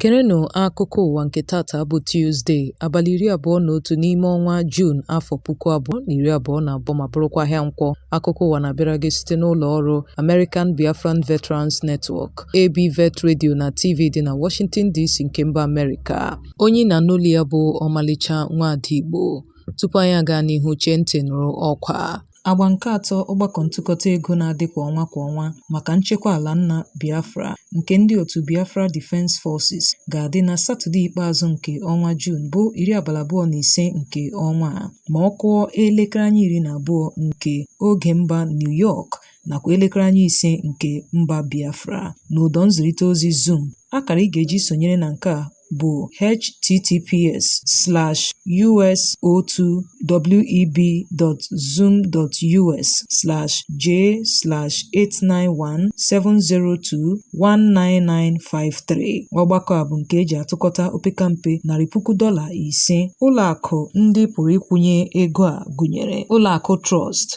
Gerenụ akụkọ ụwa nke tata bụ Tuzde, abalị iri abụọ na otu n'ime ọnwa Juun afọ puku abụọ na iri abụọ na abụọ ma bụrụkwa ahịa nkwọ. Akụkọ ụwa na-abịara gị site n'ụlọ ọrụ American Biafran Veterans Network, ABVET Radio na TV dị na Washington DC nke mba Amerịka. Onye ị na-anụ olu ya bụ ọmalịcha nwaada Igbo. Tupu anyị agaa n'ihu chee ntị nụrụ ọkwa a. Agba nke atọ ọgbakọ ntụkọta ego na-adị kwa ọnwa kwa ọnwa maka nchekwa ala nna Biafra nke ndị otu Biafra Defence Forces ga-adị na Satọde ikpeazụ nke ọnwa Juun bụ iri abalị abụọ na ise nke ọnwa a ma ọ kụọ elekere anya iri na abụọ nke oge mba New York nakwa elekere anya ise nke mba Biafra n'ụdọ nzirịta ozi Zoom. Akara ị ga-eji sonyere na nke a bụ https slash us02web.zoom.us slash j slash 891-702-19953 ọgbakọ a bụ nke e ji atụkọta opekampe narị puku dọla ise ụlọakụ ndị pụrụ ịkwụnye ego a gụnyere ụlọakụ Trust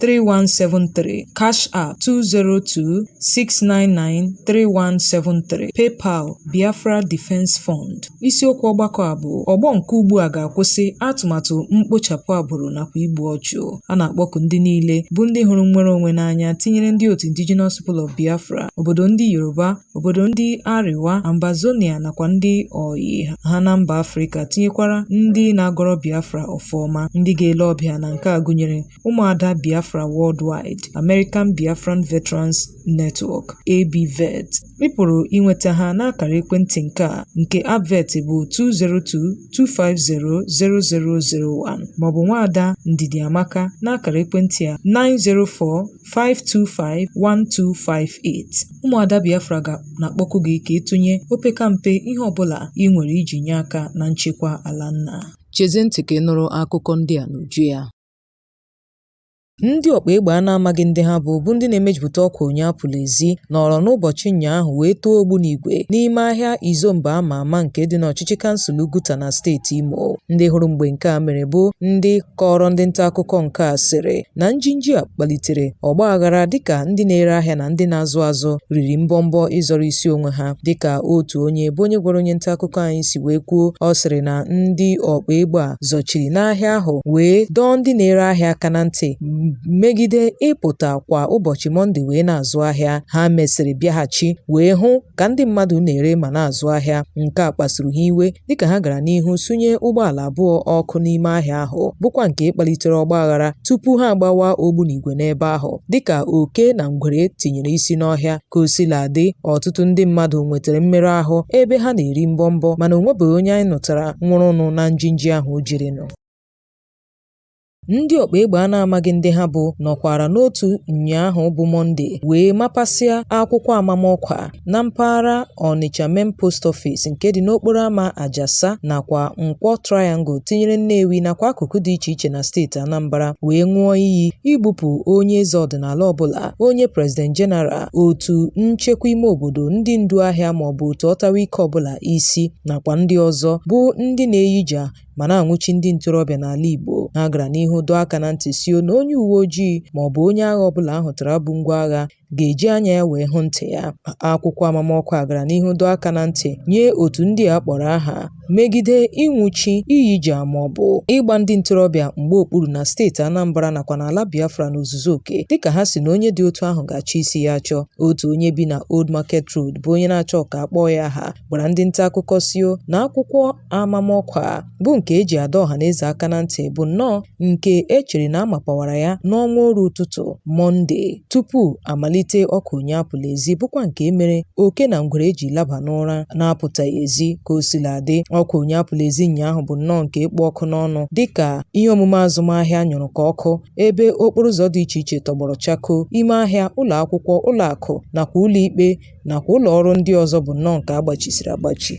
3173 Cash App 202-699-3173 PayPal Biafra Defense Fund isiokwu ọgbakọ a bụ ọgbọ nke ugbu a ga-akwụsị atụmatụ mkpochapụ agbụrụ nakwa igbu ọchụ a na-akpọku ndị niile bụ ndị hụrụ nnwere onwe n'anya tinyere ndị otu Indigenous People of Biafra obodo ndị Yoruba obodo ndị Arewa Ambazonia nakwa ndị ọyị ha na mba Afrịka tinyekwara ndị na-agọrọ Biafra ọfọ ọma ndị ga-ele ọbịa na nke a gụnyere Ụmụada Biafra Worldwide, American Biafran Veterans Network, ABVET, ị pụrụ inweta ha n'akara ekwentị nke a nke ABVET bụ 202-250-0001 maọbụ nwaada Ndidiamaka n'akara ekwentị a 904-525-1258. Ụmụada Biafra ga na-akpọku gị ka ị tụnye opekampe ihe ọbụla ị nwere iji nye aka na nchekwa ala nna. Chezie ntị ka ị nụrụ akụkọ ndị a n'uju ya. Ndị ọkpa egbe a na-amaghị ndị ha bụ bụ ndị na-emejupụta ọkwa onye apụla ezi nọrọ n'ụbọchị ụnyaahụ wee tọọ ogbunigwe n'ime ahịa Izombe a ma ama nke dị n'ọchịchị kansụl Oguta na steeti Imo. Ndị hụrụ mgbe nke a mere bụ ndị kọọrọ ndị nta akụkọ nke a sịrị na njinji a kpalitere ọgba aghara dịka ndị na-ere ahịa na ndị na-azụ azụ riri mbọmbọ ịzọrọ isi onwe ha dịka otu onye bụ onye gwara onye nta akụkọ anyị si wee kwuo ọ sịrị na ndị ọkpa egbe a zọchiri n'ahịa ahụ wee dọọ ndị na-ere ahịa aka na ntị megide ịpụta kwa ụbọchị Mọnde wee na-azụ ahịa. Ha mesịrị bịaghachi wee hụ ka ndị mmadụ na-ere ma na-azụ ahịa. Nke a kpasuru ha iwe dịka ha gara n'ihu sunye ụgbọala abụọ ọkụ n'ime ahịa ahụ bụkwa nke kpalitere ọgbaghara tupu ha agbawa ogbunigwe n'ebe ahụ dịka oke na ngwere tinyere isi n'ọhịa Ka o sila dị, ọtụtụ ndị mmadụ nwetara mmerụ ahụ ebe ha na-eri mbọmbọ mana o nwebeghị onye anyị nụtara nwụrụnụ na njinji ahụ o jirinụ. Ndị ọkpa egbe a na-amaghị ndị ha bụ nọkwara n'otu ụnyaahụ bụ Mọnde wee mapasịa akwụkwọ amamọkwa na mpaghara Ọnịcha Main Post Office nke dị n'okporo ama Ajasa nakwa Nkwọ Triangle tinyere Nnewi nakwa akụkụ dị iche iche na steeti Anambra wee ṅụọ iyi igbupụ onye eze ọdịnala ọbụla onye President General, otu nchekwa ime obodo, ndị ndu ahịa maọbụ otu ọtawa ike ọbụla isi nakwa ndị ọzọ bụ ndị na-eyija ma na-anwụchi ndị ntorobịa n'ala Igbo. Ha gara n'ihu dọọ aka na ntị sio na onye uwe ojii maọbụ onye agha ọbụla a hụtara bu ngwa agha ga-eji anya ya wee hụ ntị ya. Akwụkwọ amamọkwa a gara n'ihu dọọ aka na ntị nye otu ndị a kpọrọ aha megide ịnwụchi, iyija maọbụ ịgba ndị ntorobịa mgba okpuru na steeti Anambra nakwa n'ala Biafra n'ozuzu oke dịka ha si na onye dị otu ahụ ga-achọ isi ya achọ. Otu onye bi na Old Market Road bụ onye na-achọ ka a kpọọ ya aha gwara ndị nta akụkọ sio na akwụkwọ amamọkwa a bụ nke e ji adọ ọha na eze aka na ntị bụ nnọọ nke e chere na a mapawara ya n'ọnwa oru ụtụtụ Mọnde. tupu a malite oku onye apụla ezi bụkwa nke mere oke na ngwere ji laba n'ụra na-apụtaghị ezi ka o sila dị oku onye apụla ezi ụnyaahụ bụ nnọọ nke kpụ ọkụ n'ọnụ dịka ihe omume azụmahịa nyụrụ ka ọkụ ebe okporo ụzọ dị iche iche tọgbọrọ chakoo ime ahịa ụlọ akwụkwọ ụlọ akụ nakwa ụlọ ikpe nakwa ụlọ ọrụ ndị ọzọ bụ nnọọ nke a gbachisiri agbachi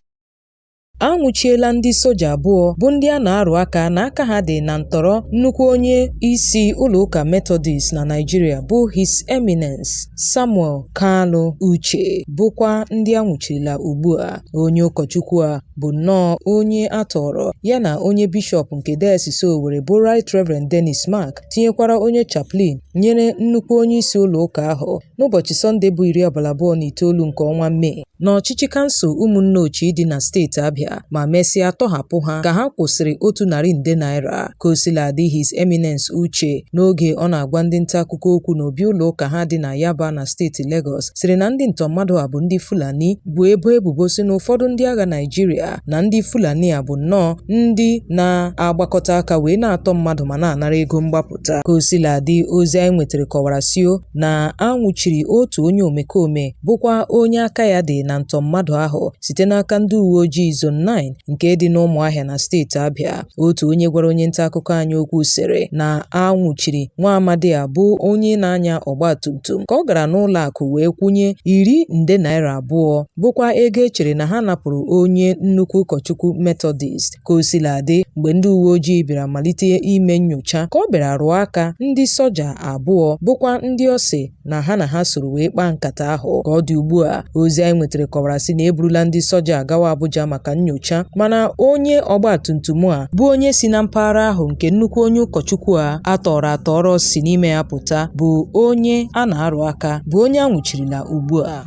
A nwụchiela ndị soja abụọ bụ ndị a na-arụ aka na aka ha dị na ntọrọ nnukwu onye isi ụlọụka Methodist na Naịjirịa bụ His Eminence Samuel Kalu Uche bụkwa ndị a nwụchirila ugbu a. Onye ụkọchukwu a bụ nnọọ onye a tọọrọ ya na onye bishọp nke Dayọsis Owerri bụ Right Reverend Dennis Mark tinyekwara onye chaplain nyere nnukwu onye isi ụlọụka ahụ n'ụbọchị Sọnde bụ iri abalị abụọ na itoolu nke ọnwa Mee n'ọchịchị kansụl Ụmụnneochi dị na steeti Abịa ma mesịa tọhapụ ha ka ha kwụsịrị otu narị nde naira ka o sila dị His Eminence Uche n'oge ọ na-agwa ndị nta akụkọ okwu n'obi ụlọ ụka ha dị na Yaba na steeti Legọs sịrị na ndị ntọ mmadụ a bụ ndị Fulani bụ ebo ebubo si na ụfọdụ ndị agha Naịjirịa na ndị Fulani a bụ nnọọ ndị na-agbakọta aka wee na-atọ mmadụ ma na-anara ego mgbapụta ka o sila dị ozi anyị nwetara kọwara sio na a nwụchiri otu onye omekome bụkwa onye aka ya dị na ntọ mmadụ ahụ site n'aka ndị uwe ojii Zone 9 nke dị n'Ụmụahịa na steeti Abịa. Otu onye gwara onye nta akụkọ anyị okwu sịrị na a nwụchiri nwa amadi a bụ onye na-anya ọgba tum tum ka ọ gara n'ụlọ akụ wee kwụnye iri nde naira abụọ bụkwa ego e chere na ha napụrụ onye nnukwu ụkọchukwu Metọdist. Ka o sila dị, mgbe ndị uwe ojii bịara malite ime nyocha, ka ọ bịara rụọ aka ndị soja abụọ bụkwa ndị ọ sị na ha na ha soro wee kpaa nkata ahụ. Ka ọ dị ugbu a, ozi anyị nwetara kọwara sị na eburula ndị soja gawa Abuja maka nyocha, mana onye ọgbatumtum a bụ onye si na mpaghara ahụ nke nnukwu onye ụkọchukwu a a tọọrọ atọrọ si n'ime ya pụta bụ onye a na-arụ aka bụ onye a nwụchirila ugbu a.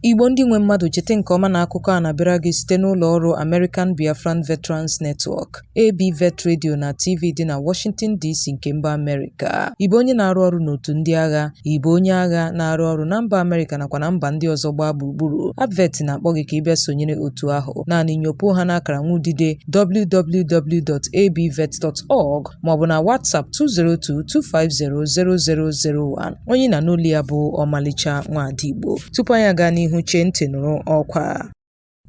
Igbo ndị nwe mmadụ cheta nke ọma na akụkọ a na-abịara gị site n'ụlọ ọrụ American Biafran Veterans Network, ABVET Radio na TV dị na Washington DC nke mba Amerịka. Ị bụ onye na-arụ ọrụ n'otu ndị agha, ị bụ onye agha na-arụ ọrụ na mba Amerịka nakwa na mba ndị ọzọ gbaa gburugburu. ABVET na-akpọ gị ka ị bịa sonyere otu ahụ. Naanị nyopuo ha n'akara nwa udide www.abvet.org maọbụ na WhatsApp 202 250 0001. onye ị na-anụ olu ya bụ ọmalịcha nwaada Igbo tupu anyị aga n'ihu chee ntị nụrụ ọkwa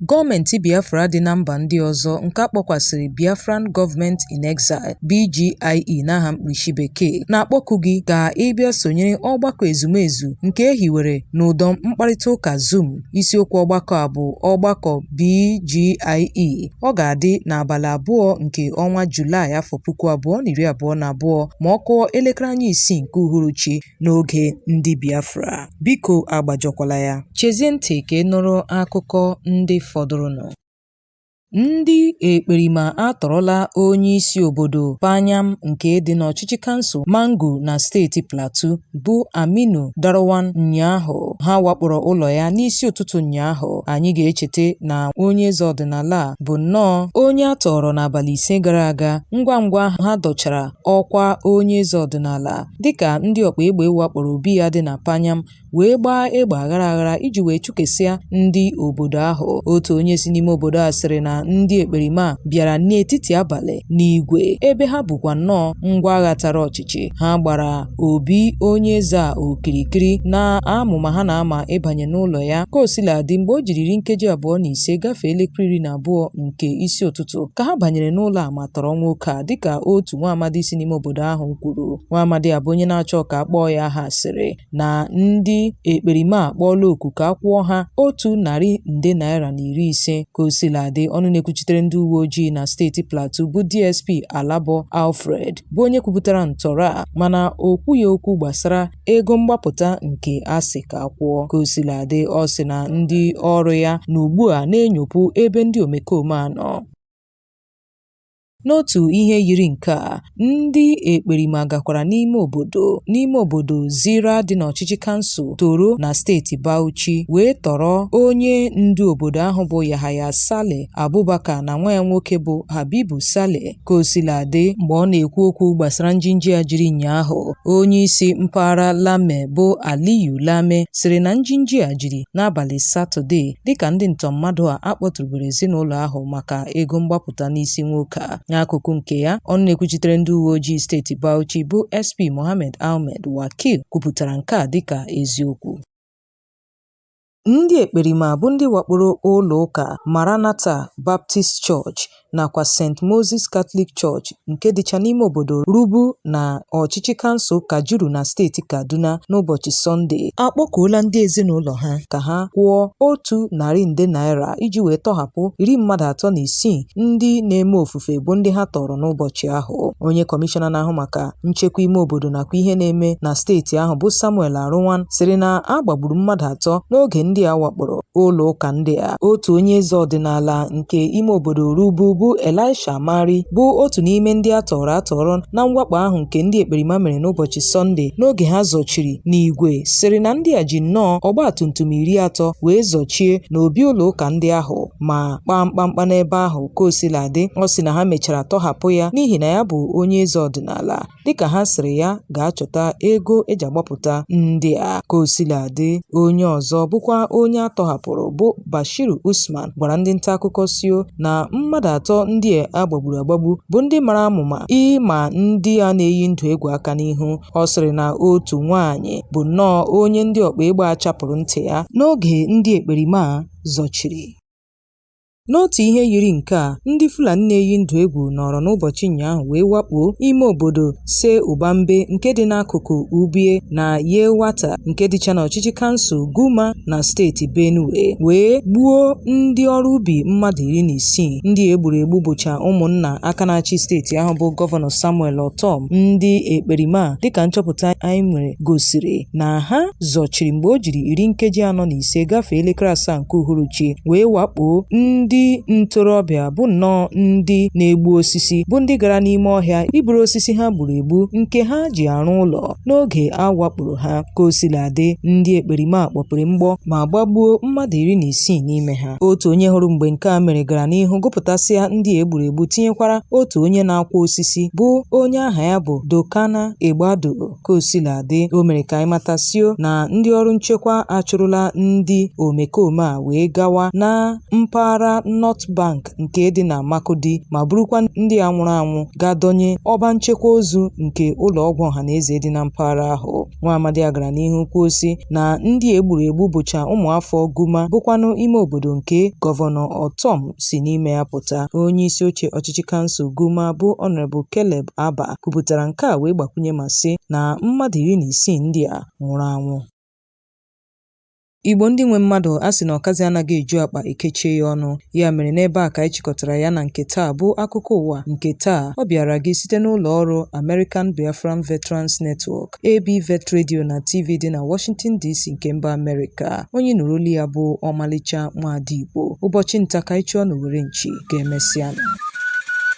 Gọọmenti Biafra dị na mba ndị ọzọ nke a kpọkwasịrị Biafran Government in Exile, BGIE n'aha mkpirisi bekee, na-akpọku gị ka ị bịa sonyere ọgbakọ ezumezu nke e hiwere n'ụdọ mkparịta ụka Zoom Isiokwu ọgbakọ a bụ ọgbakọ BGIE. Ọ ga-adị n'abalị abụọ nke ọnwa Julaị afọ puku abụọ na iri abụọ na abụọ ma ọ kụọ elekere anya isii nke uhuruchi n'oge ndị Biafra. Biko agbajọkwala ya. Chezie ntị ka ị nụrụ akụkọ ndị fọdụrụnụ. Ndị ekperima atọrọla onyeisi obodo Panyam nke dị n'ọchịchị kansụl Mangu na steeti Plateau bụ Aminu Derwan ụnyaahụ. Ha wakporo ụlọ ya n'isi ụtụtụ ụnyaahụ. Anyị ga-echeta na onye eze ọdịnala a bụ nnọọ onye a tọọrọ n'abalị ise gara aga ngwa ngwa ha dọchara ọkwa onye eze ọdịnala dịka ndị ọkpa egbe wakporo obi ya dị na Panyam wee gbaa egbe aghara aghara iji wee chụkesịa ndị obodo ahụ otu onye si n'ime obodo a sịrị na ndị ekperima bịara n'etiti abalị n'igwe ebe ha bukwa nnọọ ngwa agha tara ọchịchị ha gbara obi onye eze a okirikiri n'amụma ha na-ama ịbanye n'ụlọ ya ka o sila dị mgbe o jiriri nkeji abụọ na ise gafee elekere iri na abụọ nke isi ụtụtụ ka ha banyere n'ụlọ a ma tọrọ nwoke a dịka otu nwa amadi si n'ime obodo ahụ kwuru nwa amadi a bụ onye na-achọ ka a kpọọ ya aha sịrị na ndị ekperima a kpọọla oku ka a kwụọ ha otu narị nde naira na iri ise. Ka o sila dị, ọnụ na-ekwuchitere ndị uwe ojii na steeti Plateau bụ DSP Alabo Alfred bụ onye kwupụtara ntọrọ a mana o kwughị okwu gbasara ego mgbapụta nke a sị ka a kwụọ. Ka o sila dị, ọ sị na ndị ọrụ ya nọ ugbu a na-enyopụ ebe ndị omekome a nọ. N'otu ihe yiri nke a, ndị ekperima gakwara n'ime obodo n'ime obodo Zira dị n'ọchịchị kansụl Toro na steeti Bauchi wee tọrọ onye ndu obodo ahụ bụ Yahaya Saleh Abubakar na nwa ya nwoke bụ Habibu Saleh. Ka o sila dị, mgbe ọ na-ekwu okwu gbasara njinji a jiri ụnyaahụ, onye isi mpaghara Lame bụ Aliyu Lame sịrị na njinji a jiri n'abalị Satọde dịka ndị ntọmmadụ a akpọtụrụbere ezinụlọ ahụ maka ego mgbapụ pụta n'isi nwoke a. N'akụkụ nke ya, ọnụ na-ekwuchitere ndị uwe ojii steeti Bauchi bụ SP Mohammed Ahmed Wakil kwupụtara nke a dịka eziokwu. Ndị ekperima bụ ndị wakporo ụlọụka Maranatha Baptist Church nakwa St. Moses Catholic Church nke dịcha n'ime obodo Rubu na ọchịchị kansụl Kajuru na steeti Kaduna n'ụbọchị Sọnde akpọkuola ndị ezinụlọ ha ka ha kwụọ otu narị nde naira iji wee tọhapụ iri mmadụ atọ na isii ndị na-eme ofufe bụ ndị ha tọrọ n'ụbọchị ahụ onye kọmishọna na-ahụ maka nchekwa ime obodo nakwa ihe na-eme na steeti ahụ bụ Samuel Aruwan sịrị na a gbagburu mmadụ atọ n'oge ndị a wakporo ụlọ ụka ndị a otu onye eze ọdịnala nke ime obodo Rubu bụ Elisha Mari bụ otu n'ime ndị a tọrọ atọrọ na mwakpo ahụ nke ndị ekperima mere n'ụbọchị Sọnde n'oge ha zọchiri n'igwe sịrị na ndị a ji nnọọ ọgba tum tum iri atọ wee zọchie n'obi ụlọ ụka ndị ahụ ma kpaa mkpamkpa n'ebe ahụ ka o sila dị ọ sị na ha mechara tọhapụ ya n'ihi na ya bụ onye eze ọdịnala dịka ha sịrị ya ga-achọta ego e ji agbapụta ndị a ka o sila dị onye ọzọ bụkwa onye a tọhapụrụ bụ Bashir Usman gwara ndị nta akụkọ sio na mmadụ atọ ndị a gbagburu agbagbu bụ ndị mara amụma ịma ndị a na-eyi ndụ egwu aka n'ihu ọ sịrị na otu nwaanyị bụ nnọọ onye ndị ọkpa ịgba a chapụrụ ntị ya n'oge ndị ekperima a zọchiri N'otu ihe yiri nke a, ndị Fulani na-eyi ndụ egwu nọrọ n'ụbọchị ụnyaahụ wee wakpo ime obodo Tse Ugbambe nke dị n'akụkụ Ubie na Yelwata nke dịcha n'ọchịchị kansụl Guma na steeti Benue wee gbuo ndị ọrụ ubi mmadụ iri na isii. Ndị e gburu egbu bụcha ụmụnna aka na-achị steeti ahụ bụ Gọvanọ Samuel Ortom ndị ekperima a dịka nchọpụta anyị nwere gosiri na ha zọchiri mgbe o jiri iri nkeji anọ na ise gafee elekere asaa nke uhuruchi wee wakpoo ndị ntorobịa bụ nnọọ ndị na-egbu osisi bụ ndị gara n'ime ọhịa iburu osisi ha gburu egbu nke ha ji arụ ụlọ n'oge a wakporo ha ka o sila dị ndị ekperima kpọpere mgbọ ma gbagbuo mmadụ iri na isii n'ime ha otu onye hụrụ mgbe nke a mere gara n'ihu gụpụtasịa ndị e gburu egbu tinyekwara otu onye na-akwọ osisi bụ onye aha ya bụ Dokana Egbado Ka o sila dị, o mere ka anyị mata sị na ndị ọrụ nchekwa achụrụla ndị omekome a wee gawa na mpaghara North Bank nke dị na Makurdi ma burukwa ndị a nwụrụ anwụ gaa dọnye ọba nchekwa ozu nke ụlọọgwụ ọhanaeze dị na mpaghara ahụ. Nwaamadi a gara n'ihu kwuo sị na ndị e gburu egbu bụcha ụmụafọ Guma bụkwanụ ime obodo nke Gọvanọ Ortom si n'ime ya pụta. Onyeisioche ọchịchị kansụl Guma bụ Honourable Caleb Aba kwupụtara nke a wee gbakwunye ma sị na mmadụ iri na isii ndị a nwụrụ anwụ Igbo ndị nwe mmadụ a sị na ọkazi anaghị eju akpa e kechie ya ọnụ ya mere n'ebe a ka anyị chịkọtara ya na nke taa bụ akụkọ ụwa nke taa ọ bịara gị site n'ụlọ ọrụ American Biafran Veterans Network AB Vet Radio na TV dị na Washington DC nke mba Amerịka onye nụrụ olu ya bụ ọmalịcha nwaada Igbo ụbọchị nta ka anyị chụọ n'owere nchi ka e mesịa